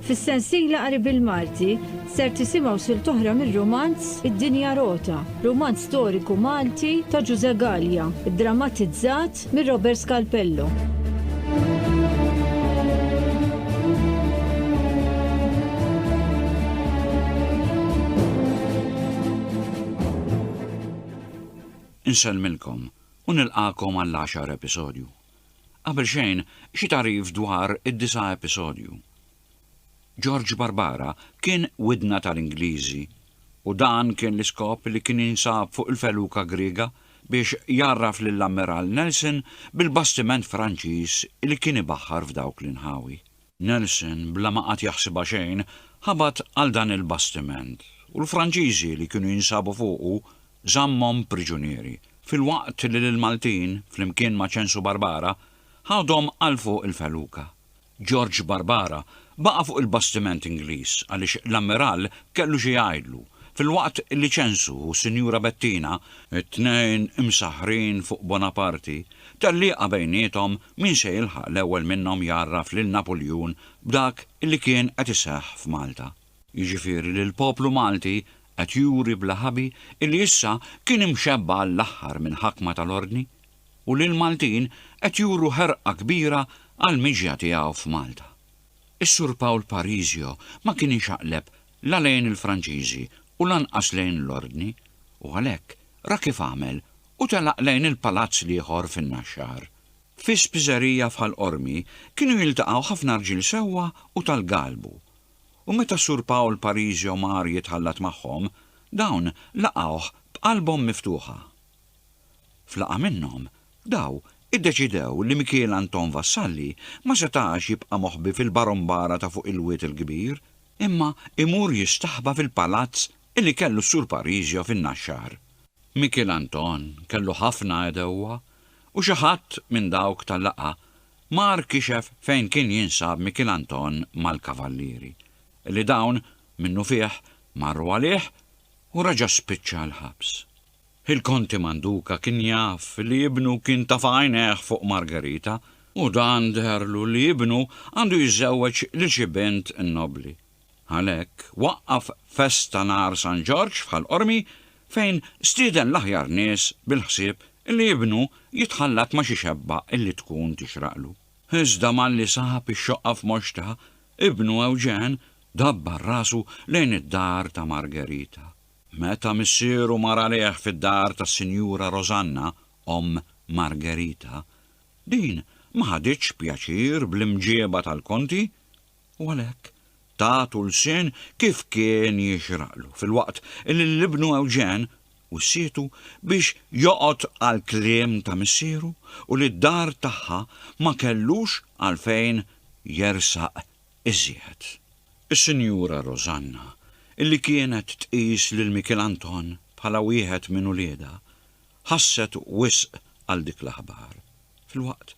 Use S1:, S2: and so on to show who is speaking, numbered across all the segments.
S1: Fis-sensiela qari bil-Malti ser tisimgħu silt oħra mir-rumanz Id-Dinja Rota, rumanz storiku Malti ta' Ġużè Gallia, iddramatizzat minn Robert Scalpello.
S2: Insellmilkom u nilqagħkom għall-għaxar episodju. Qabel xejn, xi tagħrif dwar id-disa' episodju. George Barbara kien widna tal-Ingliżi u dan kien l-iskop li kien jinsab fuq il-feluka Griega biex jgħarraf lill-Ammiral Nelson bil-bastiment Franċiż li kien ibaħħar f'dawk l-inħawi. Nelson, bla ma qagħad jaħsibha xejn, ħabat għal dan il-bastiment, u l-Franċiżi li kienu jinsabu fuqu żammhom priġunieri, filwaqt li l-Maltin, flimkien ma' Ċensu Barbara, ħadhom għal fuq il-feluka. Ġorġ Barbara baqa' fuq il-bastiment Ingliż għaliex l-Ammiral kellu xi jgħidlu, filwaqt li Ċensu u s-Sinjura Bettina, it-tnejn imsaħħrin fuq Bonaparti, tellieqa bejniethom Min se jilħaq l-ewwel minnhom jgħarraf lil Napuljun b'dak li kien qed iseħħ f'Malta. Jiġifieri li l-poplu Malti qed juri bla ħabi li issa kien imxebba għall-aħħar minn ħakma tal-Ordni u li l-Maltin qed juru ħerqa kbira għall-miġja tiegħu f'Malta. Is-Sur Pawl Parisio ma kien inxaqleb la lejn il-Franċiżi u lanqas lejn l-Ordni u għalhekk ra kif għamel u telaq lejn il-palazz l-ieħor fin-Naxxar. Fi spiżerija f'Ħal Qormi kienu jiltaqgħu ħafna rġiel sewwa u tal-galbu. U meta Sur Pawl Parisio mar jitħallat magħhom, dawn laqgħuh b'qalbhom miftuħa. F'laqgħa minnhom, daw iddeċidew li Mikiel Anton Vassalli ma setax jibqa' moħbi fil-Barombara ta' fuq il-Wied il-Kbir, imma imur jistaħba fil-palazz illi kellu s-Sur Pariġio fin-Naxxar. Mikiel Anton kellu ħafna għedewwa u xi ħadd minn dawk tal-laqgħa mar kixef fejn kien jinsab Mikiel Anton mal-Kavallieri, illi dawn minnufih marru għalih u reġa' spiċċa l-ħabs. Il-Konti Manduca kien jaf li ibnu kien taf' għajnejh fuq Margherita u dan deherlu li ibnu għandu jiżżewweġ lil xi bint nobbli. Għalhekk, waqqaf festa nhar San Ġorġ f'Ħal Qormi fejn stieden l-aħjar nies bil-ħsieb li ibnu jitħallat ma' xi xebba li tkun tixraqlu. Iżda malli sab ix-xoqqa f'Moxta, ibnu Ewġen dabbar rasu lejn id-dar ta' Margerita. Meta missieru mar għalih fid-dar tas-Sinjura Rosanna, omm Margerita, din ma ħaditx pjaċir bl-imġieba tal-Konti, U għalhekk ta tulsien kif kien jixraqlu, filwaqt li l-ibnu Ewġen wissietu biex joqgħod għall-kliem ta' missieru u li d-dar tagħha ma kellux għalfejn jersaq iżjed. Is-Sinjura Rożanna, illi kienet tqis lil Mikiel Anton bħala wieħed minn uliedha, ħasset wisq għal dik l-aħbar, filwaqt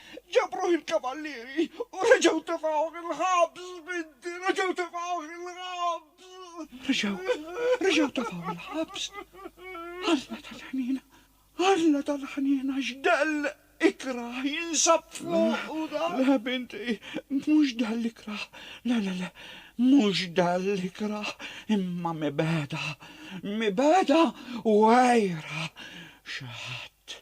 S3: Ġabruh il-kavallieri u reġgħu tefgħuh il-ħabs, binti, reġgħu tefgħuh il-ħabs. Reġgħu, reġgħu tefgħuh il-ħabs. Alla tal-ħniena, Alla tal-ħniena x'dell ikrah jinsab fuqu dan. Le, binti, mhux dell ikrah, le, le, le, mhux dell ikrah, imma mibegħda, mibegħda u għejra xi ħadd. Tt,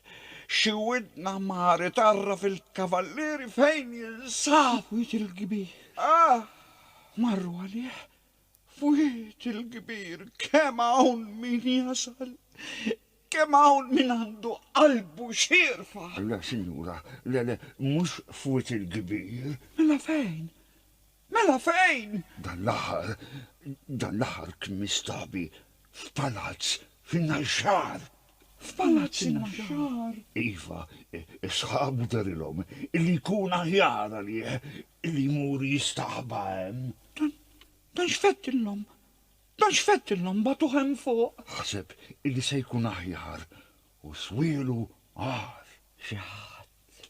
S3: Xi widn aħmar itgħarraf il-kavallieri fejn jinsab? F'wied il-kbir. Ah! Marru għalih f'wied il-kbir. Kemm hawn min jasal! Kemm hawn min għandu qalbu xierfa! Le, sinjura,
S4: le, le,
S3: mhux
S4: f'wied il-kbir. Mela
S3: fejn?
S4: Mela
S3: fejn? Dan l-aħħar,
S4: dan l-aħħar kien mistabi f'palazz fin-Naxxar. F'palazz
S3: in-Naxxar? Iva,
S4: sħabu darilhom li jkun aħjar għalih li jmur jistaħba hemm. Dan, dan
S3: x'fettillhom? Dan x'fettillhom batuh hemm fuq? Ħaseb li
S4: se jkun aħjar u swielu għar. Xi ħadd,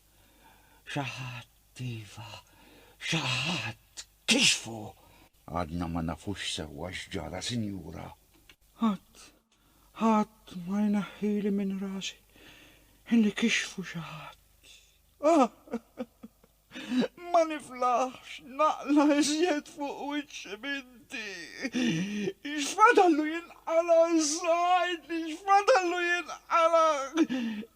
S4: xi ħadd. Iva, xi ħadd kixfu! Għadna ma nafux sewwa x'ġara, sinjura. Ħadd,
S3: ħadd ma jneħħili minn rasi li kixfu xi ħadd. Ah! Ma niflaħx naqla' iżjed fuq wiċċi minti! X'fadallu jinqala' issa, għidli x'fadallu jinqala'!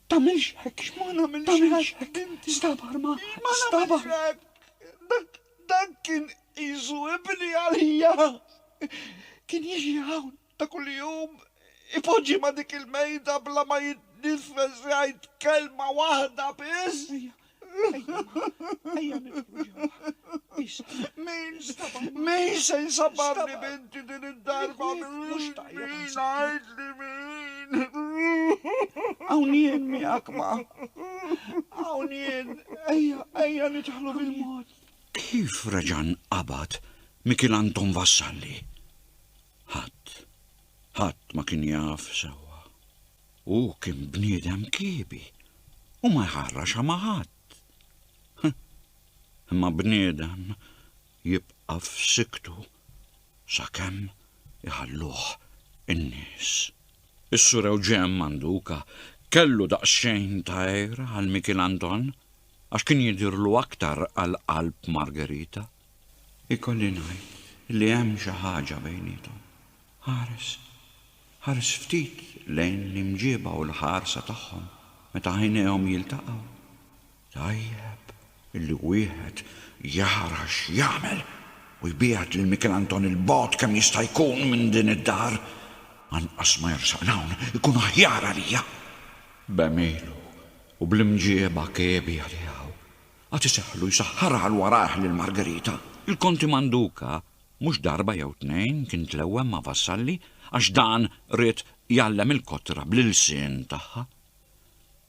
S3: Tagħmilx hekk! Ma nagħmilx hekk! Inti! Stabar ma! Stabar! Ma nagħmilx hekk! Dak kien qisu ibni għalija! Kien jiġi hawn ta' kuljum, ipoġġi ma' dik il-mejda bla ma jitniffes jgħid kelma waħda biss! Ejja, Min se jsabarni binti din id-darba mhux tajjeb ngħid li min. Hawn jien miegħek ma. Hawn jien ejja ejja nidħlu bil-mod. Kif
S2: reġan qabad Mikil Anton Vassalli? Ħadd, ħadd ma kien jaf sewwa. Hu kien bniedem kiebi u ma jħarrax ma' ħadd. Imma bniedem jibqa' f'siktu sakemm iħalluh in-nies. Is-Sur Ewġen Manduka kellu daqsxejn ta' għira għal Mikiel Anton għax kien jidhirlu aktar għal qalb Margherita. Ikolli ngħid li hemm xi ħaġa bejniethom. Ħares Ħares ftit lejn l-imġieba u l-ħarsa tagħhom meta għajnejhom jiltaqgħu. Tajjeb illi wieħed jara x'jagħmel u jbiegħed lil Mikelanton 'il bogħod kemm jista' jkun minn din id-dar. Anqas ma jersaq 'l hawn ikun aħjar għalija! B'għemilu u bl-imġieba kiebi għaliha u għad iseħħlu jsaħħarha 'l warajh lil Margherita. Il-Konti Manduca Mhux darba jew tnejn kien tlewwem ma' Vassalli għax dan ried jgħallem il-kotra bl-ilsien tagħha.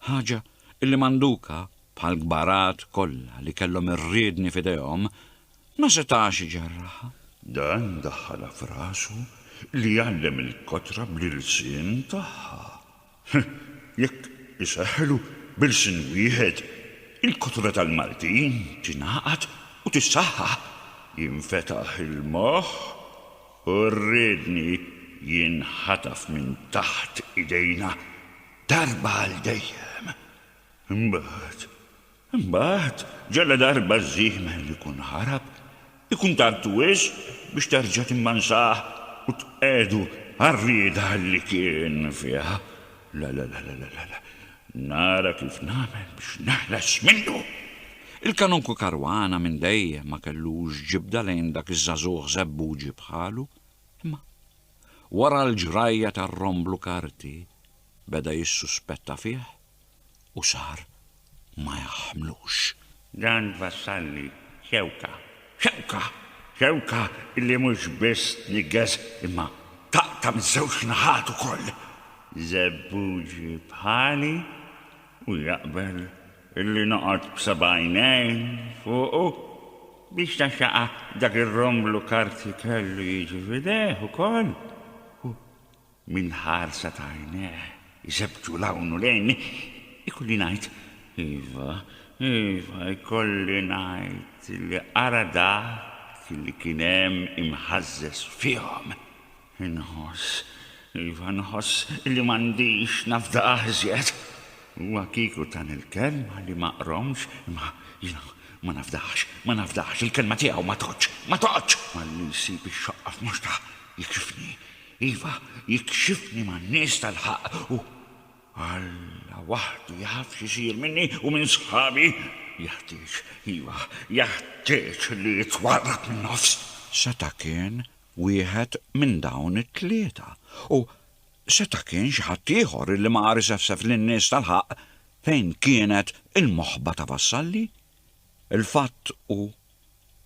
S2: Ħaġa illi Manduka, bħall-kbarat kollha li kellhom ir-riedni f'idejhom, ma setax iġerraħha. Dan
S4: daħħalha f'rasu li jgħallem il-kotra bl-ilsien tagħha. Ħh, jekk iseħħlu b'ilsien wieħed, il-kotura tal-Maltin tingħaqad u tissaħħaħ, jinfetaħ il-moħħ u r-riedni jinħataf minn taħt idejna darba għal dejjem. Imbagħad Imbagħad, ġaladarba ż-żiemel ikun ħarab, ikun tard wisq biex terġa' timmansah u tqiegħdu għar-rieda li kien fiha. La, la, la, la, la, la! Nara kif nagħmel biex neħles minnu! Il-Kanonku
S2: Caruana minn dejjem ma kellux ġibda lejn dak iż-żagħżugħ żebbuġi bħalu, imma wara l-ġrajja tar-romblu karti beda jissuspetta fih u xahar ma jaħmlux. Dan
S4: wassalni xewka, xewka, xewka li mhux biss tniggeż imma taqta' miż-żewġ naħat ukoll. Żebbuġi bħali u jaqbel illi noqgħod b'sebgħajnejn fuqu biex taxxaqa' dak ir-romblu karti kellu jiġi f'idejh ukoll u Minn ħarsa ta' għajnejh iżebtu 'l hawn u 'l hinn, ikolli ngħid, iva, iva, ikolli ngħid li ara dak li kien hemm imħażżeż fihom. Inħoss, iva, nħoss li m'għandix nafda aħżjed. Huwa kieku tani l-kelma li ma qromx, imma jiena ma nafdax, ma nafdax, il-kelma tiegħu ma tgħoddx, ma tgħoddx! Malli jsib ix-xoqqa f'mhux ta' jekxifni, Iva, jikxifni man-nies tal-ħaqq u Alla waħdu jaf x'isir minni u minn sħabi. Jeħtieġ, iva, jeħtieġ li jitwarrab min-nofs. Seta' kien
S2: wieħed minn dawn it-tlieta u seta' kien xi ħadd ieħor illi ma qar isefsef lin-nies tal-ħaqq fejn kienet il-moħba ta' Vassalli. Il-fatt hu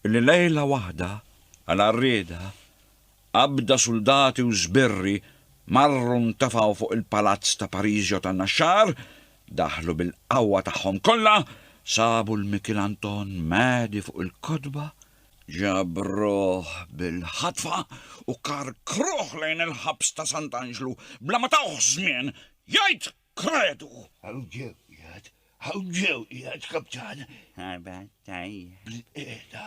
S2: illi lejla waħda, għal għarrieda, Qabda suldati u żbirri marru ntefgħu fuq il-palazz ta' Pariżio tan-Naxxar, daħlu bil-qawwa tagħhom kollha, sabu 'l Mikil Anton mgħedi fuq il-kotba, ġabruh bil-ħatfa u karkruh lejn il-ħabs ta' Sant'Anġlu bla ma tawh żmien jgħid kredu! Hawn ġew qiegħed,
S4: hawn ġew qiegħed, Kaptan! Ħabat tajjeb. Bilqiegħda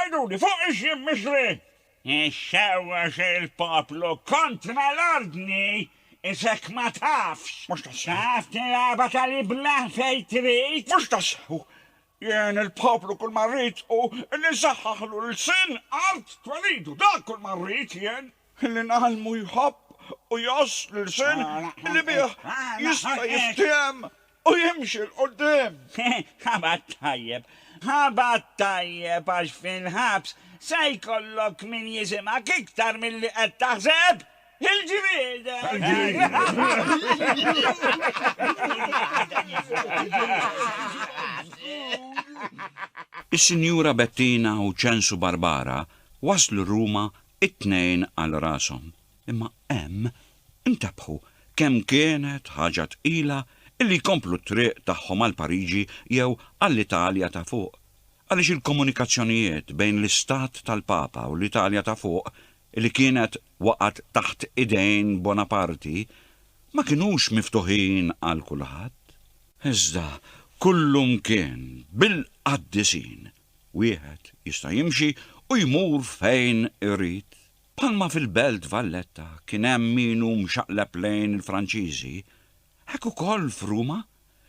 S3: Għiduli, fuq ix jien mixli? Ix-xewwa
S4: xi l-poplu kontra l-ordni, isek ma tafx. Mhux tas-sew
S3: tilgħabha
S4: tal-iblah fejn trid? Mhux tas-sew!
S3: Jien il-poplu kull ma rrid hu li nsaħħaħlu l-lsien, art, twelidu, dak kull ma rrid jien. Li ngħallmu jħobb u jgħożż l-lsien li bih jista' jiftiehem. U jimxi 'l quddiem! Ħabar tajjeb!
S4: Ħabar tajjeb għax fil-ħabs se jkollok min jisimgħek iktar milli qed taħseb! Il-ġmiel!
S2: Is-Sinjura Bettina u Ċensu Barbara waslu Ruma t-Tnejn għal rashom Imma hemm intabbħu kemm kienet ħaġa tqila illi jkomplu t-triq tagħhom għal Pariġi jew għall-Italja ta' fuq, għaliex il-komunikazzjonijiet bejn l-istat tal-Papa u l-Italja ta' fuq, illi kienet waqgħet taħt idejn Bonaparti, ma kinux miftuħin għal kulħadd. Iżda kullumkien bil-qaddisin, wieħed jista' jimxi u jmur fejn irid Bħalma fil-Belt Valletta kien hemm min hu mxaqleb lejn il-Franċiżi, hekk ukoll f'Ruma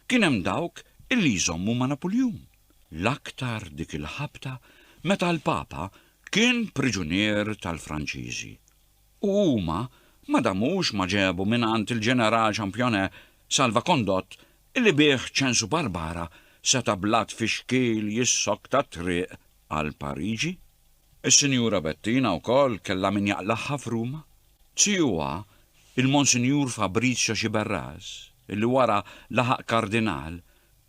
S2: kien hemm dawk illi jżommu ma' Napuljun, l-aktar dik il-ħabta meta l-Papa kien priġunier tal-Franċiżi u huma ma damux ma ġebu mingħand il-Ġeneral Championnet Salva Condott illi bih Ċensu Barbara seta' bla tfixkil jissokta t-triq għal Pariġi. Is-Sinjura Bettina wkoll kellha min jaqlagħha f'Ruma. Tiegħuha, il-Monsinjur Fabrizio Sciberras, li wara laħaq Kardinal,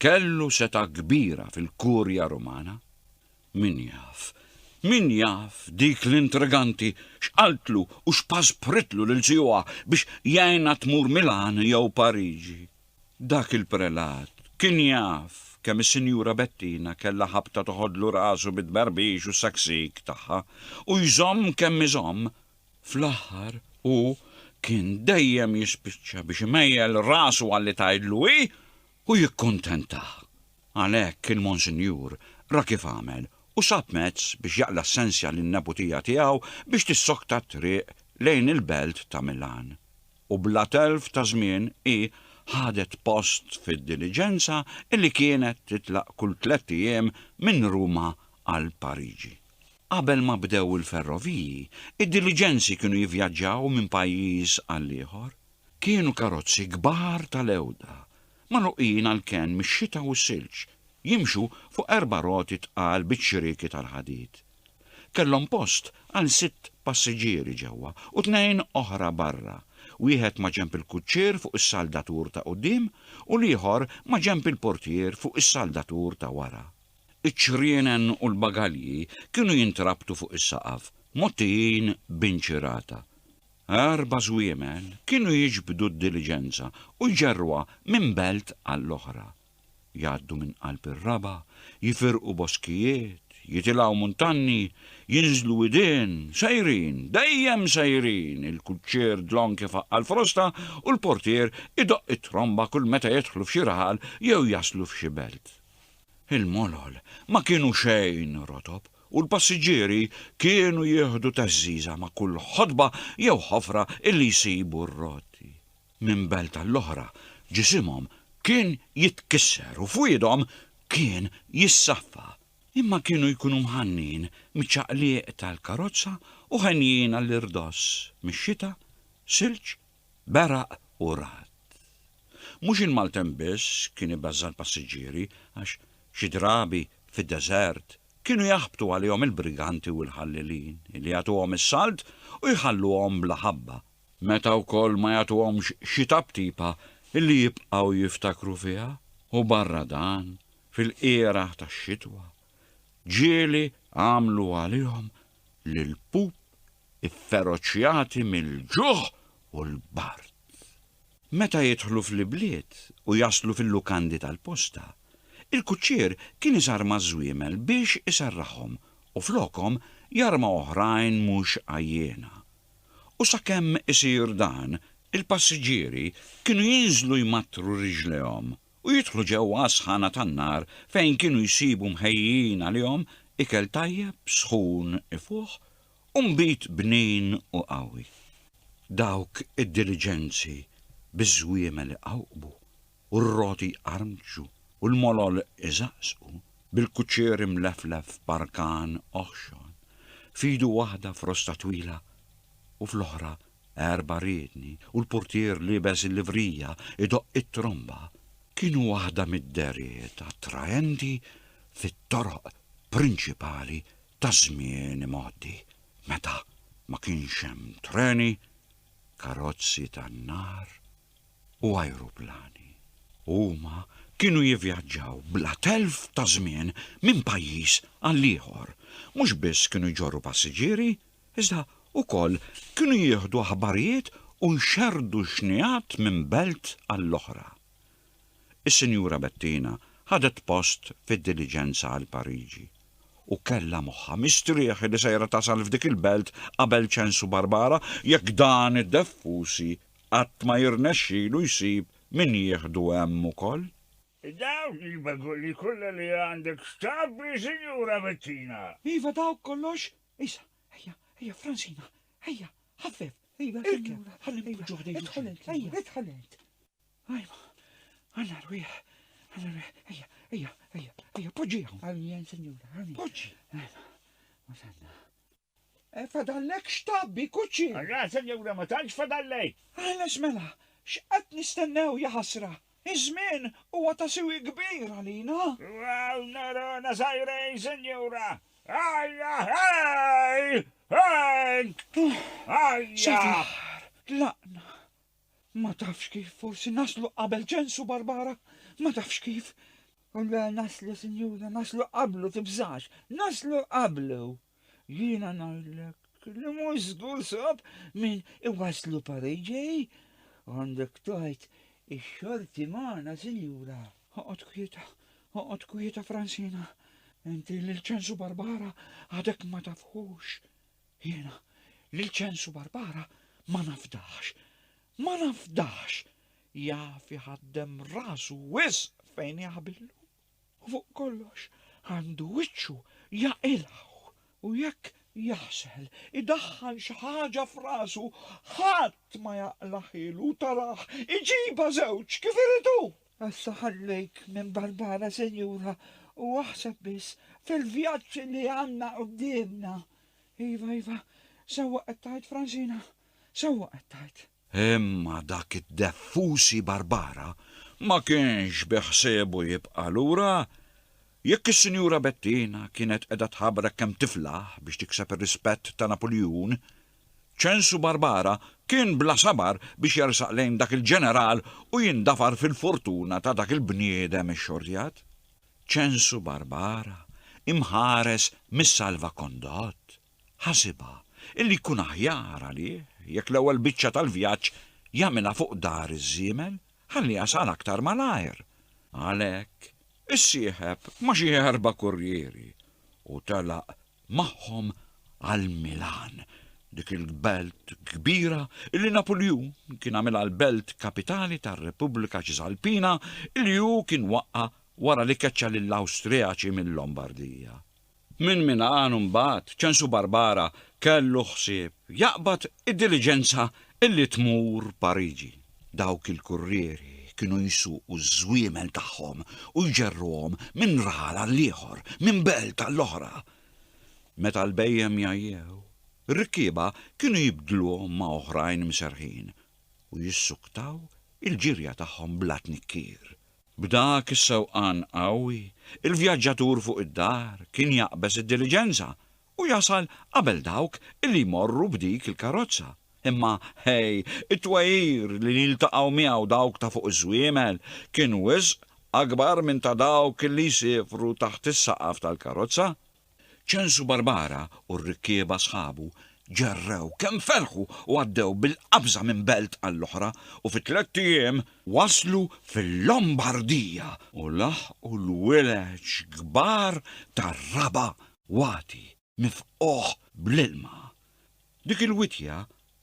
S2: kellu setgħa kbira fil-Kurja Rumana. Min jaf, min jaf dik l-intriganti x'qaltlu u x'paspritlu lil tiegħuha biex jgħinha tmur Milan jew Pariġi. Dak il-prelat kien jaf kemm is-Sinjura Bettina kellha ħabta toħodlu rasu bit-tberbix u s-saksik tagħha u jżomm kemm iżomm, fl-aħħar hu kien dejjem jispiċċa biex imejjel rasu għalli tgħidlu hi u jikkuntentaha. Għalhekk il-Monsinjur ra kif għamel u sab mezz biex jaqla' s-sensja lin-neputija tiegħu biex tissokta t-triq lejn il-belt ta' Milan. u bla telf ta' żmien hi ħadet post fid-diliġenza li kienet titlaq kull tlett ijiem minn Ruma għal Pariġi. Qabel ma bdew il-ferroviji, id-diliġenzi kienu jivvjaġġaw minn pajjiż għal ieħor. Kienu karozzi kbar tal-għewda, magħluqin għall-kenn mix-xita u s-silġ, jimxu fuq erba' roti tqal biċ-ċirieki tal-ħadid. Kellhom post għal sitt passiġġieri ġewwa u tnejn oħra barra, wieħed maġenb il-kuċċier fuq is-saldatur ta' quddiem u l-ieħor maġenb il-portier fuq is-saldatur ta' wara. Iċ-ċrienen u l-bagalji kienu jintrabtu fuq is-saqaf, mgħottijin b'inċirata. Erba' żwiemel kienu jiġbdu d-diliġenza u jġerruha minn belt għall-oħra. Jgħaddu minn qalb ir-raba', jifirqu boskijiet, jitilgħu muntanni, jinżlu widien, sejrin, dejjem sejrin, il-kuċċier dlonk ifaqqal frosta u l-portier idoqq it-tromba kull meta jidħlu f'xi raħal jew jaslu f'xi belt. Il-molol ma kienu xejn rotob u l-passiġġieri kienu jieħdu teżżiża ma' kull ħodba jew ħofra illi jsibu r-rotti. minn belt għall-oħra, ġisimhom kien jitkisser u fwiedhom kien jissaffa, imma kienu jkunu mħannin miċ-ċaqliq tal-karozza u henjin għall-irdoss mix-xita, silġ, beraq u ragħad. Mhux il-maltemp biss kien ibeżża' l-passiġġieri għax xi drabi fid-deżert kienu jaħbtu għalihom il-briganti u l-ħallelin li jagħtuhom is-salt u jħalluhom bla ħabba meta wkoll ma jagħtuhomx xi taptipa li jibqgħu jiftakru fiha u barra dan, fil-qiegħraħ tax-xitwa, ġieli għamlu għalihom lill-pup ifferoċjati mill-ġuħ u l-bard. Meta jidħlu fl-ibliet u jaslu fil-lukandi tal-posta, il-kuċċier kien iżarma ż-żwiemel biex iserraħhom u flokhom jarma oħrajn mhux għajjiena, U sakemm isir dan, il-passiġġieri kienu jinżlu jmattru riġlejhom u jidħlu ġewwa għas-sħana tan-nar fejn kienu jsibu mħejjijin għalihom ikel tajjeb, sħun, ifuħ u nbid bnin u qawwi. Dawk id-diliġenzi biż-żwiemel iqawqbu u r-roti jqarmċu u l-molol iżaqżqu, bil-kuċċier imleflef f'barkan oħxon, f'idu waħda frosta twila u fl-oħra erba' riedni u l-purtier liebes il-livrija jdoqq it-tromba, kienu waħda mid-dehriet attraenti fit-toroq prinċipali taż-żmien imgħoddi, meta ma kienx hemm treni, karozzi tan-nar, u ajruplani. Huma kienu jivvjaġġaw bla telf ta' żmien minn pajjiż għal ieħor. Mhux biss kienu jġorru passiġġieri, iżda wkoll kienu jieħdu aħbarijiet u jxerrdu xnigħat minn belt għall-oħra. Is-Sinjura Bettina ħadet post fid-diliġenza għal Pariġi u kellha moħħha mistrieħ li sejra tasal f'dik il-belt qabel ċensu Barbara jekk dan id-deffusi qatt ma jirnexxilu jsib min jieħdu hemm ukoll. Dawk
S4: il-begoli kollha li għandek x'tgħabbi, Sinjura Bettina? Iva, dawk kollox.
S3: Issa, ejja, ejja, Fransina, ejja, ħaffef, ejja, irkeb, ħalli npoġġuh ħdejn xulxin. Idħol int, ejja, idħol int. Ajma, għandna rwieħ, għandna rwieħ, ejja, ejja, ejja, ejja, poġġi hawn. Għaljen, Sinjura, għaljen. Poġġi. Ajma, wasalna. Eh, fadallek xtabbi, kuċċi! Ara, senjura, ma
S4: tantx fadallek! Ħeles mela,
S3: x'qed nistennew, ja ħasra! Iż-żmien huwa ta' siwi kbir għalina! Għal
S4: nerona żgħirin, senjura! Ajja, hej! Hej! Ajja! Sal-aħħar tlaqna!
S3: Ma tafx kif, forsi naslu qabel ċensu, Barbara? Ma tafx kif? Le, naslu, sinjura, naslu qablu, tibżax! Naslu qablu! Jiena ngħidlek li mhux żgur sob minn iwaslu pareġej għandek tajt ix-xorti magħna, sinjura. Oqgħod kwieta, oqgħod kwieta Fransina. Inti lil ċensu Barbara għadek ma tafhux. Jiena lil ċensu Barbara ma nafdax. Ma nafdax. Jaf iħaddem rasu wisq fejn jaħbillu. u fuq kollox għandu wiċċu jaqilgħu u jekk jaħsel idaħħal xi ħaġa f'rasu ħadd ma jaqlaħielu taraħ iġibha żewġ kif irid hu! Issa ħallejk minn Barbara sinjura u aħseb biss fil-vjaġġ li għandna quddiemna. Iva, iva, sewwa qed tgħid Fransina, sewwa qed tgħid. Imma dak
S2: id-deffusi Barbara ma kienx biħsiebu jibqa' lura. Jekk is-Sinjura Bettina kienet qiegħda tħabrek kemm tiflaħ biex tikseb ir-rispett ta' Napuljun, ċensu Barbara kien bla sabar biex jersaq lejn dak il-ġeneral u jindafar fil-fortuna ta' dak il-bniedem ixxortjat. Ċensu Barbara, imħares mis-salvakondott. Ħasibha illi jkun aħjar għalih jekk l-ewwel biċċa tal-vjaġġ jagħmilha fuq dar iż-żiemel ħalli jasal aktar malajr. Għalhekk, issieħeb ma' xi erba' kurrieri u telaq magħhom għal Milan, dik il-belt kbira illi Napuljun kien għamilha l-belt kapitali tar-Repubblika Ċisalpina illi hu kien waqqa' wara li keċċa lill-Awstrijaċi mil-Lombardija. Minn Milan imbagħad Ċensu Barbara kellu ħsieb jaqbad id-diliġenza illi tmur Pariġi. Dawk il-kurrieri kienu jsuqu ż-żwiemel tagħhom u jġerruhom minn raħal għall-ieħor, minn belt għall-oħra. Meta l-bhejjem jgħajjew, ir-rikkieba kienu jibdluhom ma' oħrajn mserrħin u jissuktaw il-ġirja tagħhom bla tnikkir. B'dak is-sewqan qawwi, il-vjaġġatur fuq id-dar kien jaqbeż id-diliġenża u jasal qabel dawk li jmorru b'dik il-karozza. Imma, ħej, it-twegħir li jiltaqgħu miegħu dawk ta' fuq iż-żwiemel kien wisq akbar minn ta' dawk li jsiefru taħt is-saqaf tal-karozza. Ċensu Barbara u r-rikkieba sħabu ġerrew kemm ferħu u għaddew bil-qabża minn belt għall-oħra u fi tlett ijiem waslu fil-Lombardija u laħqu l-wileġġ kbar ta' Raba' wagħti mifqugħ bl-ilma. Dik il-wittja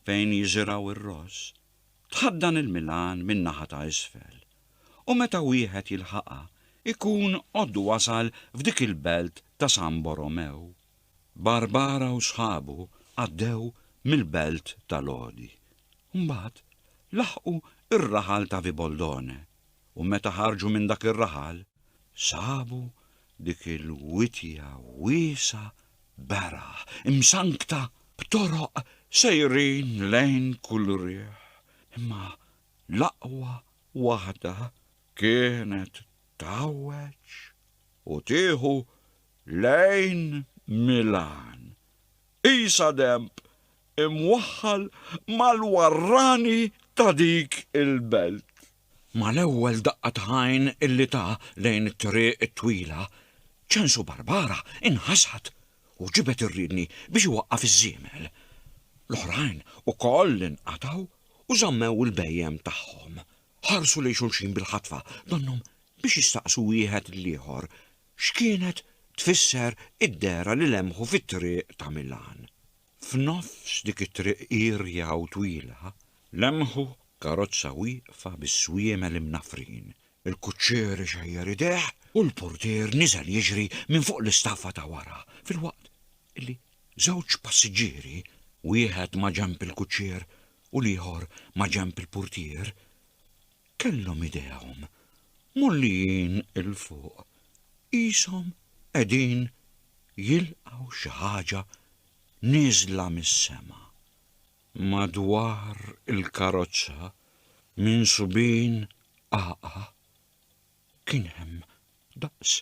S2: fejn jiżirgħu r-ross Tħaddan il-Milan min-naħa ta' isfel u meta wieħed jilħaqha jkun qod wasal f'dik il-belt ta' San Borromew. Barbara u sħabu għaddew mill-belt ta' Lodi. Mbagħad laħqu r-raħal ta' Viboldone u meta ħarġu minn dak ir-raħal sabu Dik il-witja wiesgħa beraħ, imsankta b'toroq sejrin lejn kull riħ, imma l-aqwa waħda kienet tgħawweġ u tieħu lejn Milan. Qisha denb! imwaħħal mal-warrani ta' dik il-belt. Mal-ewwel daqqa ta' għajn illi ta lejn it-triq it-twila, Ċensu Barbara inħasad u ġibed ir-riedni biex iwaqqaf iż-żiemel. L-oħrajn ukoll inqatgħu u żammew il-bhejjem tagħhom. Ħarsu lejn xulxin bil-ħatfa donnhom biex jistaqsu wieħed lill-ieħor x'kienet tfisser id-dehra li lemħu fit-triq ta' Milan. F'nofs dik it-triq irja u twila, lemħu karozza wieqfa bis-swiemel imnaffrin. Il-kuċċier ixejjer idejh u l-portier niżel jiġri minn fuq l-istaffa ta' wara, filwaqt li żewġ passiġġieri, wieħed maġenb il-kuċċier u l-ieħor maġenb il-purtier, kellhom idejhom mgħollijin 'il fuq, qishom qegħdin jilqgħu xi ħaġa nieżla mis-sema. Madwar il-karozza, minsubin qagħqa', kien hemm daqs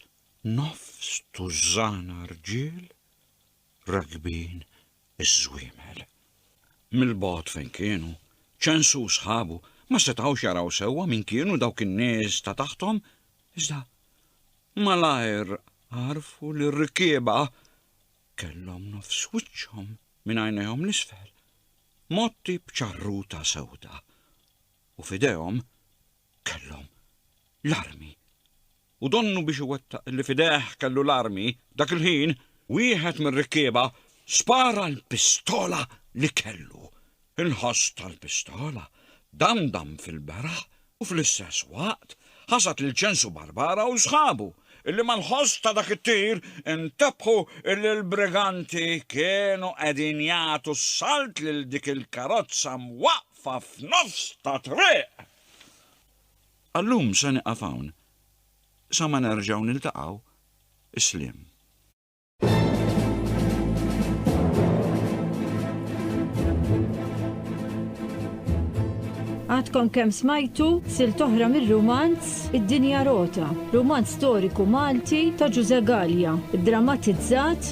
S2: nofs tużżana rġiel, rakbin Iż-żwiemel. Mill-bogħod fejn kienu, Ċensu u sħabu ma setgħux jaraw sewwa min kienu dawk in-nies ta' taħthom, iżda malajr għarfu li r-rikkieba kellhom nofs wiċċhom minn għajnejhom 'l isfel, mgħotti b'ċarruta sewda, u f'idejhom kellhom l-armi u donnu biex iwettaq li f'idejh kellu l-armi, dak il-ħin wieħed mir-rikkieba spara l-pistola li kellu. Il-ħoss tal-pistola damdam fil-beraħ u fl-istess waqt ħasad lil Ċensu Barbara u sħabu, illi mal-ħoss ta' dak it-tir intebħu illi l-briganti kienu qegħdin jagħtu s-salt lil dik il-karozza mwaqqfa f'nofs ta' triq. Għal-lum se nieqaf hawn. Sa ma nerġgħu niltaqgħu, is-sliem.
S1: Għadkom kemm smajtu silt oħra mir-rumanz Id-Dinja Rota, rumanz storiku Malti ta' Ġużè Galea, iddramatizzat